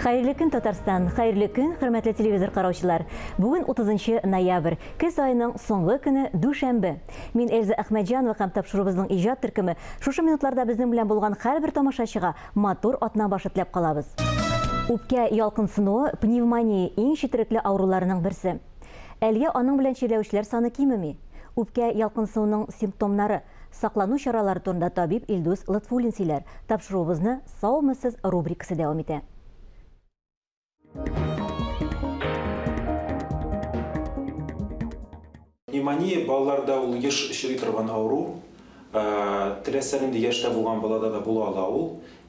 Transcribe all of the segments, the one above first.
Хәерле көн, Татарстан! Хәерле көн, хөрмәтле телевизор караучылар! Бүген 30 ноябрь, көз айының соңгы көне дүшәмбе. Мин Эльза Әхмәтҗанова һәм тапшыруыбызның иҗат төркеме шушы минутларда безнең белән булган һәрбер тамашачыга Матур атна башы теләп калабыз! Үпкә ялкынсынуы, пневмония, иң четерекле авыруларының берсе. Әлегә аның белән чирләүчеләр саны кимеми. Үпкә ялкынсынуның симптомнары, саклану чаралары турында табиб Илдус Лотфуллин сөйләр, тапшыруыбызны Саумы сез рубрикасы дәвам итә. Пневмония балаларда ул еш очрый торган авыру. Теләсә нинди яшьтә булган балада да була ала ул.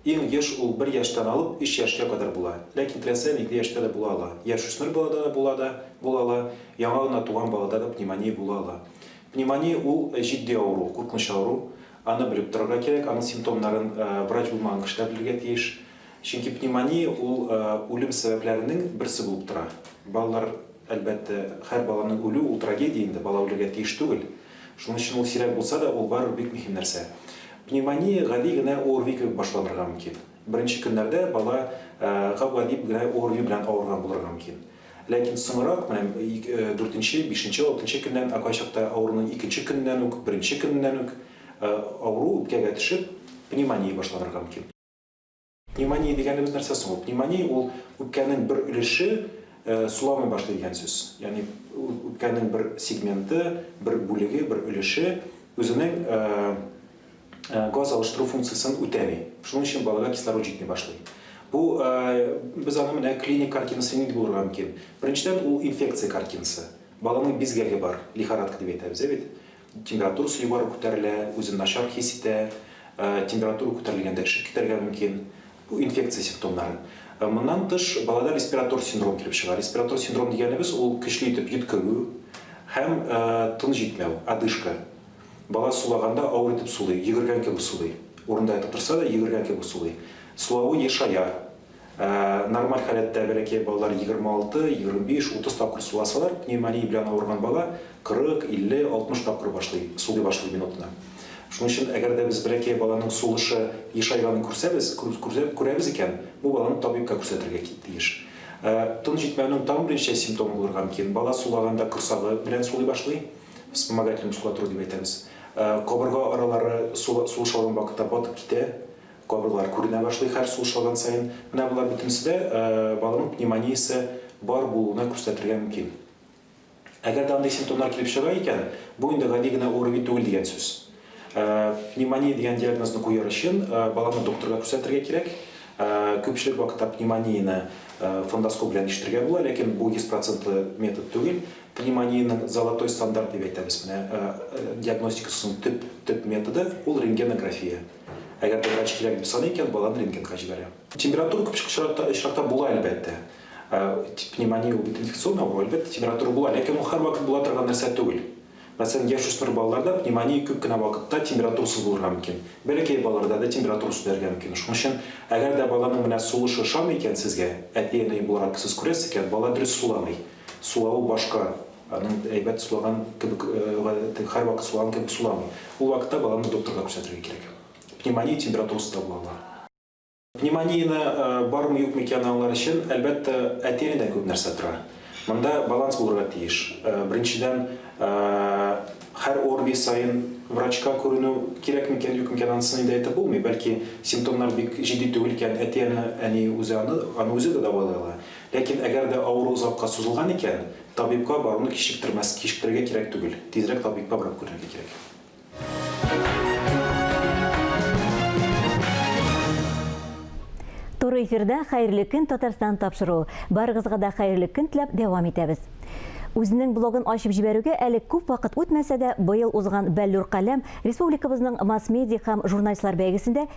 Иң еш ул бер яшьтән алып өч яшькә кадәр була. Ләкин теләсә нинди яшьтә дә була ала. Яшүсмер балада да була да була ала, яңа гына туган балада да пневмония була ала. Пневмония ул җитди авыру, куркыныч авыру. Аны белеп торырга кирәк, аның симптомнарын врач булмаган кешеләр белергә тиеш. Чөнки пневмония ул үлем сәбәпләренең берсе булып тора. Балалар, әлбәттә, һәр баланың үлү ул трагедия инде, бала үлергә тиеш түгел. Шуның өчен ул сирәк булса да, ул барыбер бик мөһим нәрсә. Пневмония гади генә ОРВИ кебек башланырга мөмкин. Беренче көннәрдә бала гап-гади генә ОРВИ белән авырган булырга мөмкин. Ләкин соңрак, менә дүртенче, бишенче, алтынчы көннән, ә кайчакта авыруның икенче көненнән үк, беренче көненнән үк авыру үпкәгә төшеп, пневмония башланырга мөмкин. Пневмония дигәнебез нәрсә соң ул? Пневмония ул үпкәнең бер өлеше суламый башлый дигән сүз. Ягъни үпкәнең бер сегменты, бер бүлеге, бер өлеше үзенең газ алыштыру функциясен үтәми. Шуның өчен балага кислород җитми башлый. Бу без аны менә клиник картинасы нинди булырга мөмкин? Беренчедән, ул инфекция картинасы. Баланың бизгәге бар, лихорадка дип әйтәбез, ә бит? Температурасы югары күтәрелә, үзен начар хис итә, температура күтәрелгәндә эчеп китәргә мөмкин. Бу инфекция симптомнары. Моннан тыш, балада респиратор синдром килеп чыга. Респиратор синдром дигәнебез, ул көчле итеп йөткерү һәм тын җитмәү, одышка. Бала сулаганда авыр итеп сулый, йөгергән кебек сулый. Урында ятып торса да, йөгергән кебек сулый. Сулавы ешая. Нормаль халәттә бәләкәй балалар егерме алты, егерме биш, утыз тапкыр суласалар, пневмония белән авырган бала кырык, илле, алтмыш тапкыр башлый, сулый башлый минутына. Шуның өчен, әгәр дә без бәләкәй баланың сулышы ешайганын күрсәбез, күрәбез икән, бу баланы табибка күрсәтергә тиеш. Тын җитмәүнең тагын берничә симптомы булырга мөмкин. Бала сулаганда корсагы белән сулый башлый, вспомогательная мускулатура дип әйтәбез. Кабырга аралары сулыш алган вакытта батып китә. Кабыклар күренә башлый хәл сулышалган саен. Менә болар бөтенесе дә балымык пневмониясе бар булуына күрсәтергә мөмкин. Әгәр дә андый симптомнар килеп чыга икән, бу инде гади генә ОРВИ түгел дигән сүз. Пневмония дигән диагнозны куяр өчен баланы докторга күрсәтергә кирәк. Күпчелек вакытта пневмонияне фондоскоп белән ишетергә була, ләкин бу 100 процентлы метод түгел. Пневмониянең золотой стандарт дип әйтәбез, менә диагностикасының төп, төп методы, ул рентгенография. Әгәр дә врач кирәк дип саный икән, баланы рентгенга җибәрә. Температура күп очракта очракта була, әлбәттә. Пневмония ул бит инфекцион авыру, әлбәттә, температура була, ләкин ул һәрвакыт була торган нәрсә түгел. Мәсәлән, яшүсмер балаларда пневмония күп кенә вакытта температурасыз булырга мөмкин. Бәләкәй балаларда да температура сүтәргә мөмкин. Шуның өчен, әгәр дә баланың менә сулышы ошамый икән сезгә, әти-әни буларак сез күрәсез икән, бала дөрес суламый. Сулавы башка. Аның әйбәт сулаган кебек, һәрвакыт сулаган кебек суламый. Ул вакытта баланы докторга күрсәтергә кирәк. Пневмония температурасы да була алар. Пневмонияне бармы-юкмы икәнен аңлар өчен, әлбәттә, әти генә күп нәрсә тора. Монда баланс булырга тиеш. Беренчедән, һәр ОРВИ саен врачка күренү кирәкме икән-юкмы икән, анысын инде әйтеп булмый. Бәлки, симптомнар бик җитди түгел икән, әти-әни үзе аны, аны үзе дә дәвалый ала. Ләкин әгәр дә авыру озакка сузылган икән, Табибка баруны кичектермәс, кичектерергә кирәк түгел. Тизрәк табибка барып күренергә кирәк. Туры эфирда Хәерле көн Татарстан тапшыру. Барыгызга да хәерле көн теләп дәвам итәбез. Үзенең блогын ачып җибәрүгә әле күп вакыт үтмәсә дә, быел узган Бәллүр каләм республикабызның масс-медиа һәм журналистлар бәйгесендә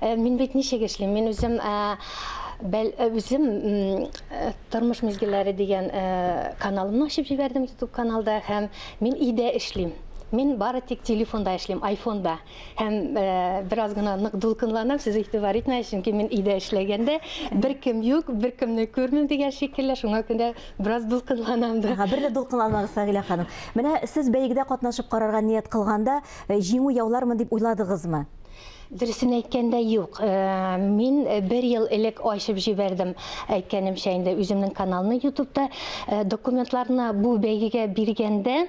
Мин бит ничек эшлим? Мин үзем үзем тормыш мизгелләре дигән каналымны ачып җибәрдем YouTube каналда һәм мин өйдә эшлим. Мин бары тик телефонда эшлим, айфонда. Һәм бераз гына нык дулкынланам, сез игътибар итмәгез, чөнки мин өйдә эшләгәндә бер кем юк, бер кемне күрмим дигән шикелле, шуңа күрә бераз дулкынланам да. Ага, бер дә дулкынланмагыз, Фагилә ханым. Менә сез бәйгедә катнашып карарга ният кылганда, җиңү яулармын дип уйладыгызмы? Дөресен әйткәндә, юк. Мин бер ел элек ачып җибәрдем, әйткәнемчә инде, үземнең каналны ютубта. Документларны бу бәйгегә биргәндә,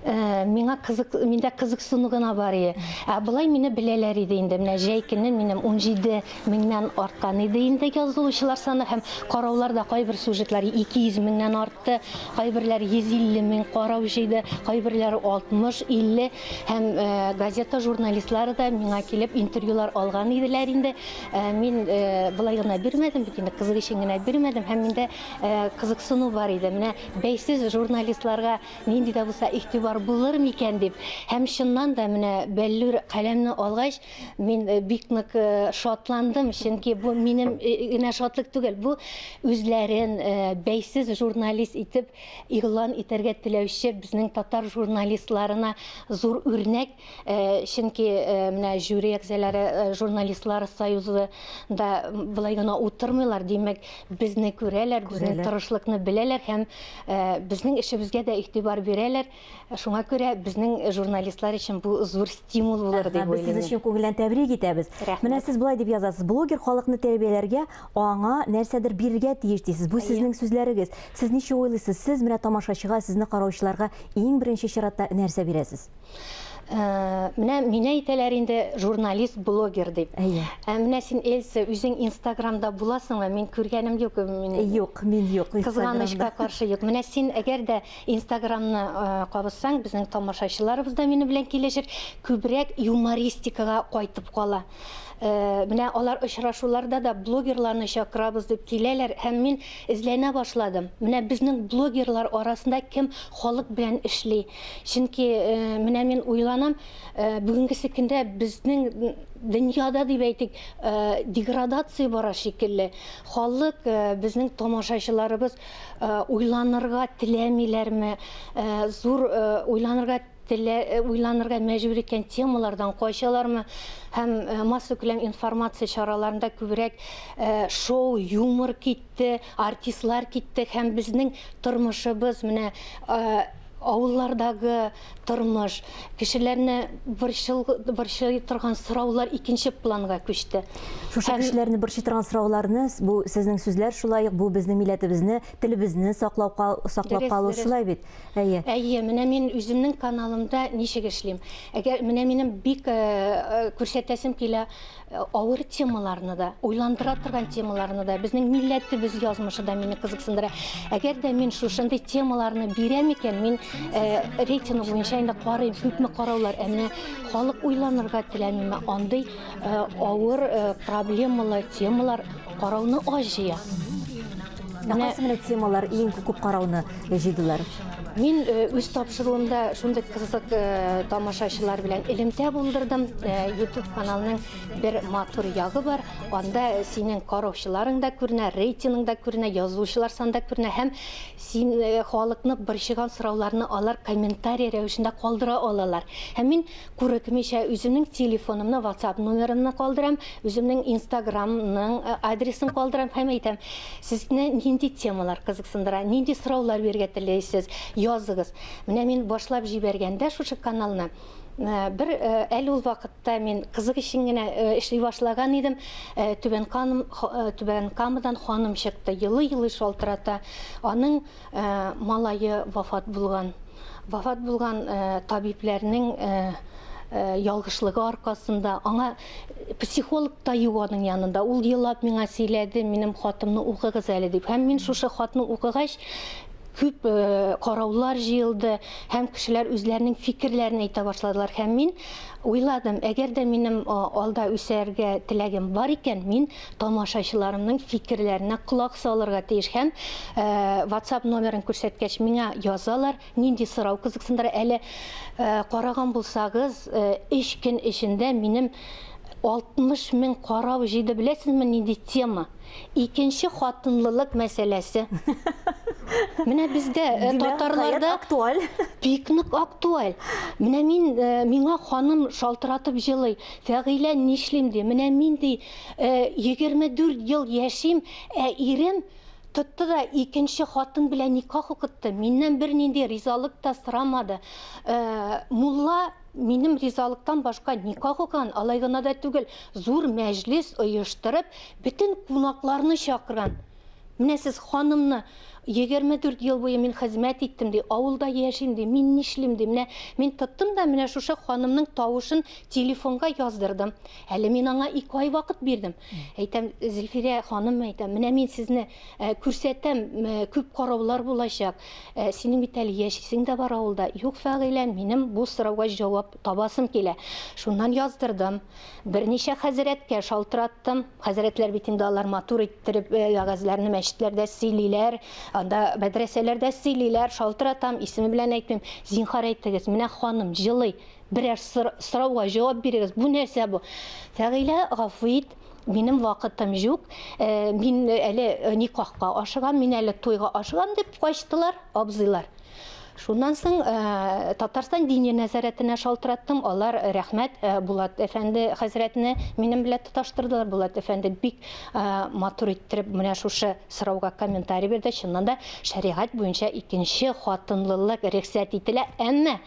миңа кызык, миндә кызыксыну гына бар иде. Ә болай мине беләләр иде инде. Менә җәй көне минем 17 меңнән арткан иде инде язылучылар саны һәм караулар да кайбер сюжетлар 200 меңнән артты, кайберләр 150 мең карау җыйды, кайберләре 60, 50. Һәм газета журналистлары да миңа килеп интервьюлар алган иделәр инде. Мин болай гына бирмәдем бит инде, кызык өчен генә бирмәдем. Һәм миндә кызыксыну бар иде. Менә бәйсез журналистларга нинди дә булса игътибар булыр микән дип. Һәм чыннан да менә Бәллүр каләмне алгач, мин бик нык шатландым, чөнки бу минем генә шатлык түгел, бу үзләрен бәйсез журналист итеп игълан итәргә теләүче безнең татар журналистларына зур үрнәк, э, чөнки э, менә жюри әгъзалары э, журналистлар союзы да былай гына утырмыйлар, димәк, безне күрәләр, безнең Күрәләр. тырышлыкны беләләр һәм э, безнең эшебезгә дә игътибар бирәләр. Шуңа күрә безнең журналистлар өчен бу зур стимул булыр дип уйлыйм. Без сез өчен күңелдән тәбрик итәбез. Менә сез болай дип язасыз, блогер халыкны тәрбияләргә, аңа нәрсәдер бирергә тиеш дисез. Бу сезнең сүзләрегез. Сез ничек уйлыйсыз, сез менә тамашачыга, сезне караучыларга иң беренче чиратта нәрсә бирәсез? Э, менә мине әйтәләр инде журналист блогер дип әйе ә менә син эльса үзең инстаграмда буласыңмы мин күргәнем юк мин юк мин юк кызганычка каршы юк менә син әгәр дә Инстаграмны кабызсаң, безнең тамашачыларыбыз да минем белән килешер, күбрәк юмористикага кайтып кала. Менә алар очрашуларда да блогерларны чакырабыз дип киләләр һәм мин эзләнә башладым. Менә безнең блогерлар арасында кем халык белән эшли? Чөнки менә мин уйланам, бүгенгесе көндә безнең дөньяда дип әйтик, деградация бара шикелле. Халык, безнең тамашачыларыбыз уйланырга теләмиләрме, зур уйланырга телә, уйланырга мәҗбүр иткән темалардан качалармы һәм массакүләм информация чараларында күбрәк шоу, юмор китте, артистлар китте һәм безнең тормышыбыз менә авыллардагы Тормыш, кешеләрне борчыл, борчый торган сораулар икенче планга күчте. Шушы Һәм- кешеләрне борчый торган сорауларны, с- бу сезнең сүзләр шулай ук, бу безнең милләтебезне, телебезне саклау, ка- саклап Дөрес, калу дөрес. шулай бит. Әйе. Әйе, менә мин үземнең каналымда ничек эшлим. Әгәр менә минем бик э, э, күрсәтәсем килә, Э, авыр темаларны да уйландыра торган темаларны да безнең милләтебез язмышы да мине кызыксындыра әгәр дә мин шушындый темаларны бирәм икән мин э, рейтинг буенча инде карыйм күпме караулар ә менә халык уйланырга теләмиме андый э, авыр проблемалы темалар Карауны аз җыя. Ә кайсы менә темалар иң күп карауны җыйдылар? Мин э, үз тапшыруымда шундый кызык э, тамашачылар белән элемтә булдырдым. Э, YouTube каналының бер матур ягы бар. Анда синең караучыларың да күренә, рейтинг да күренә, язучылар саны да күренә һәм син халыкны борчыган сорауларны алар комментарий рәвешендә калдыра алалар. Һәм мин Курыкмыйча үземнең телефонымны ватсап номерымны калдырам, үземнең инстаграмның адресын калдырам һәм әйтәм, сезне нинди темалар кызыксындыра, нинди сораулар бирергә теләйсез, языгыз. Менә мин башлап җибәргәндә шушы каналны, бер әле ул вакытта мин кызык өчен генә эшли башлаган идем, Түбән Камадан ханым чыкты, елый-елый шалтырата, аның Малае вафат булган. Вафат булган табибләрнең ялгышлыгы аркасында аңа психолог та юк аның янында. Ул елап миңа сөйләде, минем хатымны укыгыз әле дип. Һәм мин шушы хатны укыгач, күп караулар җыелды һәм кешеләр үзләренең фикерләрен әйтә башладылар. Һәм мин уйладым, әгәр дә минем алда үсәргә теләгем бар икән, мин тамашачыларымның фикерләренә колак салырга тиеш һәм WhatsApp номерын күрсәткәч миңа язалар, нинди сорау кызыксындыра. Әле караган булсагыз, 3 көн эчендә минем 60 мең карау җыйды. Беләсезме, нинди тема? Икенче хатынлылык мәсьәләсе. Менә бездә татарларда актуаль. Бик нык актуаль. Менә мин миңа ханым шалтыратып җылый. Фәгыйлә нишлим ди, менә мин ди, егерме дүрт ел яшим, ә ирем тотты да икенче хатын белән никах укытты, миннән бернинди ризалык та сорамады. Мулла минем ризалыктан башка никах укыган, алай гына да түгел, зур мәҗлес оештырып, бөтен кунакларны чакырган. Менә сез ханымны 24 ел буе мин хезмәт иттем, ди, авылда яшим, ди, мин нишлим, ди, менә мин тоттым да менә шушы ханымның тавышын телефонга яздырдым. Әле мин аңа ике ай вакыт бирдем. Әйтәм, Зөлфирә ханым, әйтәм, менә мин сезне э, күрсәтәм, э, күп караулар булачак. Э, синең бит әле яшисең дә бар авылда. Юк, Фәгыйлә, минем бу сорауга җавап табасым килә. Шуннан яздырдым. Берничә хәзрәткә шалтыраттым. Хәзрәтләр бит инде алар матур иттереп вәгазьләрне мәчетләрдә сөйлиләр, анда мәдрәсәләрдә сөйлиләр, шалтыратам, исеме белән әйтмим, зинхар әйтегез, менә ханым җылый, берәр сорауга җавап бирегез, бу нәрсә бу? Фәгыйлә, гафу ит, минем вакытым җук, мин әле никахка ашыгам, мин әле туйга ашыгам, дип качтылар абзыйлар. Шуннан соң Татарстан дини нәзарәтенә шалтыраттым. Алар рәхмәт Булат әфәнде хәзрәтне минем белән тоташтырдылар. Булат әфәнде бик матур иттереп менә шушы сорауга комментарий бирде. Чыннан да шәригать буенча икенче хатынлылык рөхсәт ителә, әмма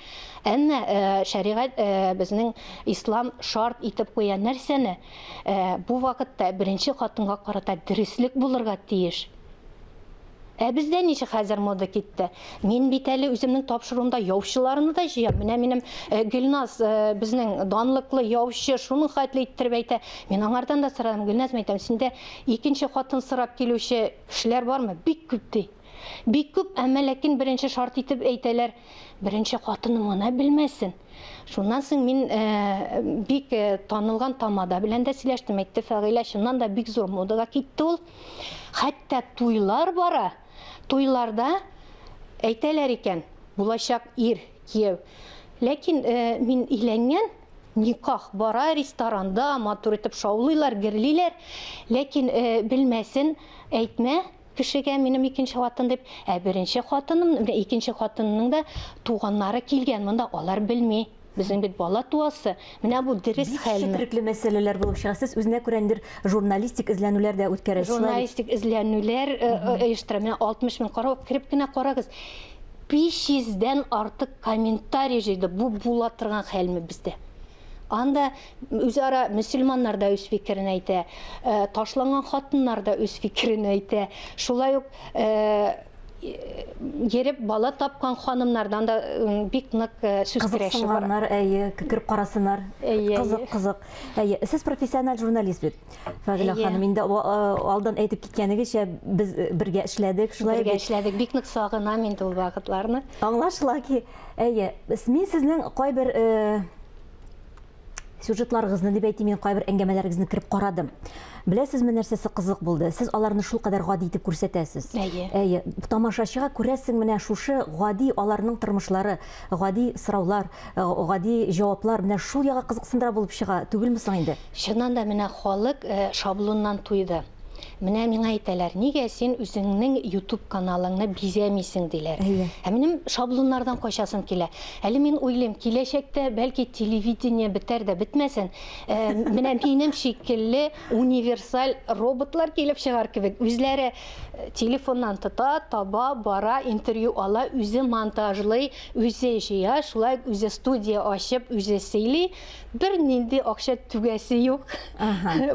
әмма шәригать безнең ислам шарт итеп куя нәрсәне? Бу вакытта беренче хатынга карата дөреслек булырга тиеш. Ә бездә ничек хәзер мода китте? Мин бит әле үземнең тапшыруымда яучыларны да җыям. Менә минем э, Гөлназ э, безнең данлыклы яучы шуның хәтле иттереп әйтә. Мин аңардан да сорадым, Гөлназ әйтәм, синдә икенче хатын сорап килүче кешеләр бармы? Бик күп ди. Бик күп, әмма ләкин беренче шарт итеп әйтәләр, беренче хатыны моны белмәсен. Шуннан соң мин э, бик э, танылган тамада белән дә сөйләштем, әйтте Фәгыйлә, чыннан да бик зур модага китте ул. Хәтта туйлар бара, туйларда әйтәләр икән, булачак ир, кияү. Ләкин мин өйләнгән, никах бара, ресторанда матур итеп шаулыйлар, герлиләр. Ләкин белмәсен, әйтмә кешегә минем икенче хатын дип. Ә беренче хатыным, икенче хатынның да туганнары килгән монда, алар белми. Безнең бит бала туасы, менә бу дөрес хәлме? Бик четерекле мәсьәләләр булып чыга. Сез үзенә күрә ниндидер журналистик эзләнүләр дә үткәрәсез. Журналистик эзләнүләр э, э, оештыра. Менә 60 мең карау, кереп кенә карагыз. 500 дән артык комментарий җыйды. Бу була торган хәлме бездә? Анда Үзара мөселманнар да үз фикерен әйтә, э, ташланган хатыннар да үз фикерен әйтә. Шулай ук э, ереп бала тапкан ханымнардан да бик нык э, сүз көрәше бар. Кызыксынганнар, әйе, кереп карасыннар. Әйе, Кызык, әйе. кызык. Әйе, сез профессиональ журналист бит. Фагилә Әйе. ханым, инде а- а- алдан әйтеп киткәнегезчә, без э, бергә эшләдек, шулай Бергә бит. эшләдек. Бик нык сагынам инде ул вакытларны. Аңлашыла ки, әйе, с- мин сезнең кайбер э, сюжетларыгызны дип әйтим, мин кайбер әңгәмәләрегезне кереп карадым. Беләсезме, нәрсәсе кызык булды? Сез аларны шул кадәр гади итеп күрсәтәсез. Әйе. Әйе. Тамашачыга күрәсең менә шушы гади аларның тормышлары, гади сораулар, э, гади җаваплар менә шул яга кызыксындыра булып чыга түгелме соң инде? Чыннан да менә халык э, шаблоннан туйды. Менә миңа әйтәләр, нигә син үзеңнең YouTube каналыңны бизәмисең диләр. Әйе. Ә минем шаблоннардан качасым килә. Әле мин уйлыйм, киләчәктә, бәлки, телевидение бетәр дә бетмәсен, менә минем шикелле универсаль роботлар килеп чыгар кебек, үзләре телефоннан тота, таба, бара, интервью ала, үзе монтажлый, үзе җыя, шулай ук үзе студия ачып, үзе сөйли, бер нинди акча түгәсе юк.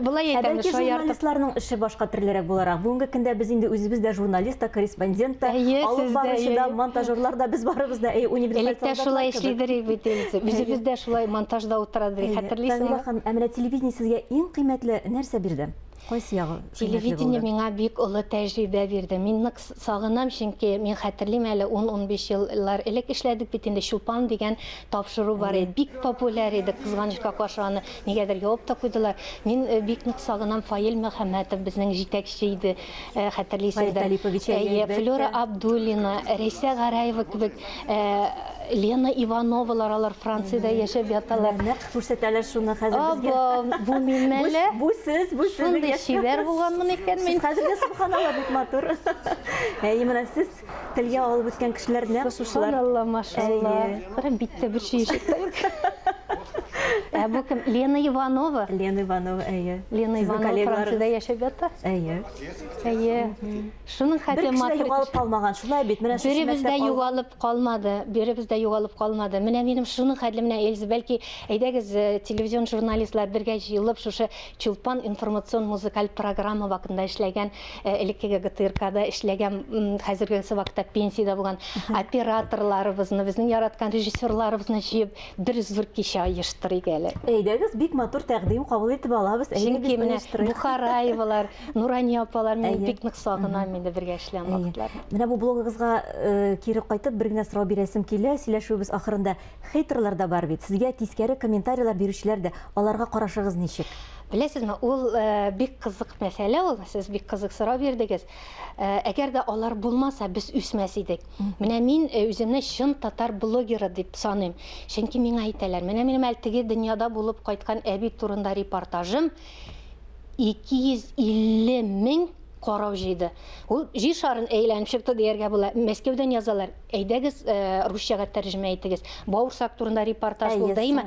Булай әйтәм, шаяртып. Журналистларның эше башка төрлерәк буларак. Бүгенге көндә без инде үзебез дә журналист та, корреспондент та, алып баручы да, монтажерлар да, без барыбыз да универсаль солдатлар. Электә шулай эшлидерик бит инде. Үзебез дә шулай монтажда утырадык, хәтерлисеңме? Фәнилә ханым, ә менә телевидение сезгә иң кыйммәтле нәрсә бирде? Кайсы ягы? Телевидение миңа бик олы тәҗрибә бирде. Мин нык сагынам, чөнки мин хәтерлим әле 10-15 еллар элек эшләдек бит инде Чулпан дигән тапшыру бар иде. Бик популяр иде, кызганычка каршы аны нигәдер ябып та куйдылар. Мин э, бик нык сагынам Фаил Мөхәммәтов безнең җитәкче иде, э, хәтерлисездер. Э, Флора Абдуллина, Рәйсә Гараева кебек Лена Ивановалар алар Франциядә яшәп яталар. Күрсәтәләр шуны хәзер безгә. Абам, бу мин мәллә? Бу сез, бу сез. Шундый чибәр булганмын икән мин. Хәзергә субханалла бик матур. Әй, менә сез телгә алып үскән кешеләр нәкъ шушылар. Субханалла, машалла. Карам биттә бер чиешек тә юк. Ә бу кем? Лена Иванова. Лена Иванова, әйе. Лена Иванова Франциядә яшәп ята. Әйе. Әйе. Шуның хәтле матур. Бер кеше югалып калмаган, шулай бит. Менә шушы мәктәп. Беребез дә югалып Калмады, беребез дә югалып калмады. Менә минем шуның хәтле менә Эльза, бәлки, әйдәгез, э, телевизион журналистлар бергә җыелып, шушы Чулпан информацион-музыкаль программа вакытында эшләгән, э, элеккеге ГТРКда эшләгән, м, хәзергесе вакытта пенсиядә булган операторларыбызны, безнең яраткан режиссерларыбызны җыеп, бер зур кичә оештырыйк әле. Әйдәгез, бик матур тәкъдим кабул итеп алабыз, әйдәгез, оештырыйк. Чөнки менә Бухараевалар, Нурания апалар, мин бик нык сагынам инде бергә эшләгән вакытларны. Менә бу блогыгызга э, кире кайтып бер генә сорау бирәсем килә. Сөйләшүебез ахырында хейтерлар да бар бит. Сезгә тискәре комментарийлар бирүчеләр дә. Аларга карашыгыз ничек? Беләсезме, ул э, бик кызык мәсьәлә ул. Сез бик кызык сорау бирдегез. Э, әгәр дә алар булмаса, без үсмәс идек. Менә мин э, үземне чын татар блогеры дип саныйм. Чөнки миңа әйтәләр, менә минем әле теге дөньяда булып кайткан әби турында репортажым, 250 мең карау җыйды. Ул җир шарын әйләнеп чыкты дияргә була. Мәскәүдән язалар. Әйдәгез, э, русчага тәрҗемә итегез. Баурсак турында репортаж булды, әйме?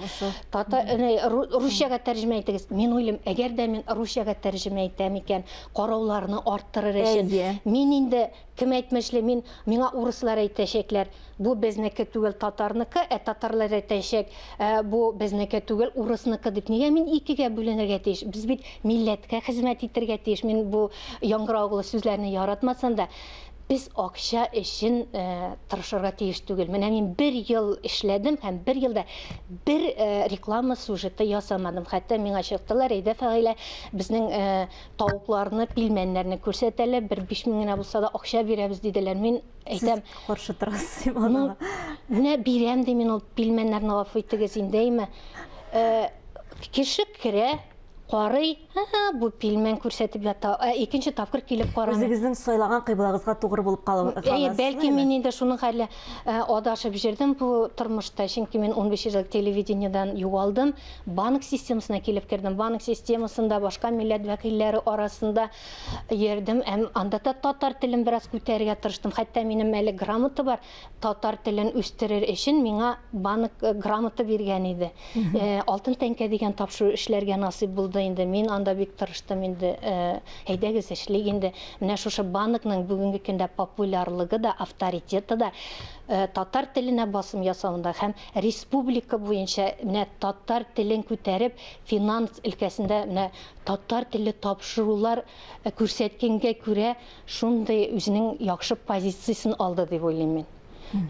Тата э, русчага тәрҗемә итегез. Мин уйлыйм, әгәр дә мин русчага тәрҗемә итәм икән, карауларны арттырыр өчен. Мин инде Кем әйтмешли, мин, миңа урыслар әйтәчәкләр, бу безнеке түгел, татарныкы, ә татарлар әйтәчәк, ә, бу безнеке түгел, урысныкы дип. Нигә мин икегә бүленергә тиеш? Без бит милләткә хезмәт итергә тиеш. Мин бу яңгыраулы сүзләрне яратмасам да, без акча өчен, ә, тырышырга тиеш түгел. Менә мин бер ел эшләдем һәм бер елда бер, ә, реклама сюжеты ясамадым. Хәтта миңа чыктылар, әйдә, Фәгыйлә, безнең, ә, тавыкларны, пилмәннәрне күрсәтәләр, бер биш мең генә булса да акча бирәбез диделәр. Мин әйтәм, каршы торасыз дип ну, менә бирәм ди мин ул пилмәннәрне гафу итегез инде әйме. Э, кеше керә, карый, бу пилмән күрсәтеп ята. Ә икенче тапкыр килеп карамый. Үзегезнең сайлаган кыйблагыгызга тугры булып калыгыз. Әйе, бәлки мин инде шуның хәле э, адашып җирдем бу тормышта, чөнки мин 15 ел телевидениедән югалдым. Банк системасына килеп кердем. Банк системасында башка милләт вәкилләре арасында йөрдем. Әм анда да татар телен бераз күтәрергә тырыштым. Хәтта минем әле грамота бар. Татар телен үстерер өчен миңа банк э, грамота биргән иде. Э, алтын тәңкә дигән тапшыру эшләргә насыйп булды инде. Мин анда бик тырыштым инде. Э, әйдәгез эшлик инде. Менә шушы банкның бүгенге көндә популярлыгы да, авторитеты да э, татар теленә басым ясавында һәм Республика буенча менә татар телен күтәреп, финанс өлкәсендә менә татар телле тапшырулар күрсәткәнгә күрә, шундый үзенең яхшы позициясен алды дип уйлыйм мин.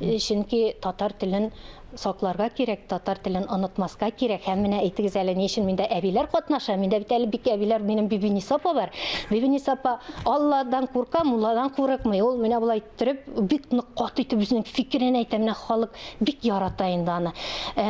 Чөнки татар телен сакларга кирәк, татар телен онытмаска кирәк. Һәм менә әйтегез әле, ни өчен миндә әбиләр катнаша? Миндә бит әле бик әбиләр, минем Бибиниса апа бар. Бибиниса апа Алладан курка, мулладан курыкмый. Ул менә болай Төреп, бик нык каты итеп үзенең фикерен әйтә. Менә халык бик ярата инде аны. Ә,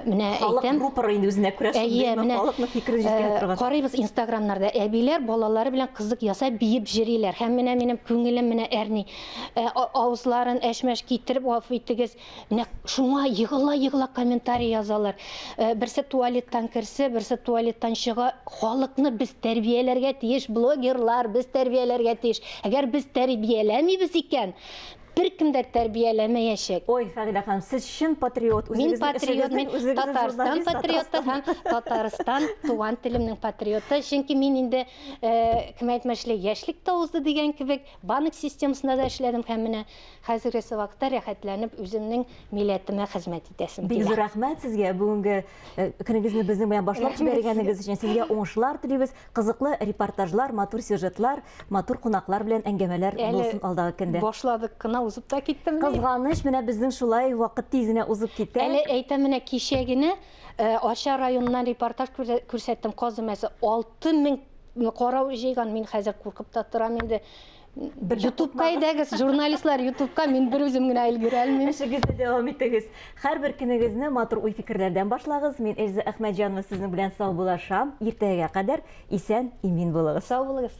менә әйтәм. Халык рупоры инде үзенә күрә шундый нык халыкны фикерен җиткерә торган. Карыйбыз Инстаграмнарда әбиләр балалары белән кызык ясап биеп җыриләр. Һәм менә минем күңелем менә әрни. Ә, авызларын әшмәш китереп, гафу итегез, Нәк шуңа егыла-егыла комментарий язалар. Э, берсе туалеттан керсе, берсе туалеттан чыга. Халыкны без тәрбияләргә тиеш, блогерлар, без тәрбияләргә тиеш. Әгәр без тәрбияләмибез икән, бер кем дә тәрбияләмәячәк. Ой, Фагилә ханым, сез чын патриот. Мин патриот, мин Татарстан патриоты һәм Татарстан туган телемнең патриоты. Чөнки мин инде э, кем әйтмешли, яшьлек та узды дигән кебек, банк системасында да эшләдем һәм менә Хәзергесе вакытта рәхәтләнеп үземнең милләтемә хезмәт итәсем килә. Бик зур рәхмәт сезгә бүгенге э, көнегезне безнең белән башлап җибәргәнегез өчен. Сезгә уңышлар телибез. Кызыклы репортажлар, матур сюжетлар, матур кунаклар белән әңгәмәләр булсын алдагы көндә. Башладык кына узып та китте менә. Кызганыч, менә безнең шулай вакыт тиз генә узып китә. Әле әйтәм, менә кичә генә э, Арча районыннан репортаж күрсәттем, каз өмәсе 6000 карау җыйган. Мин хәзер куркып та торам инде. ютубка әйдәгез журналистлар ютубка мин бер үзем генә өлгерә алмыйм эшегезне дәвам итегез һәрбер көнегезне матур уй фикерләрдән башлагыз мин эльза әхмәтҗанова сезнең белән саубуллашам иртәгәгә кадәр исән имин булыгыз сау булыгыз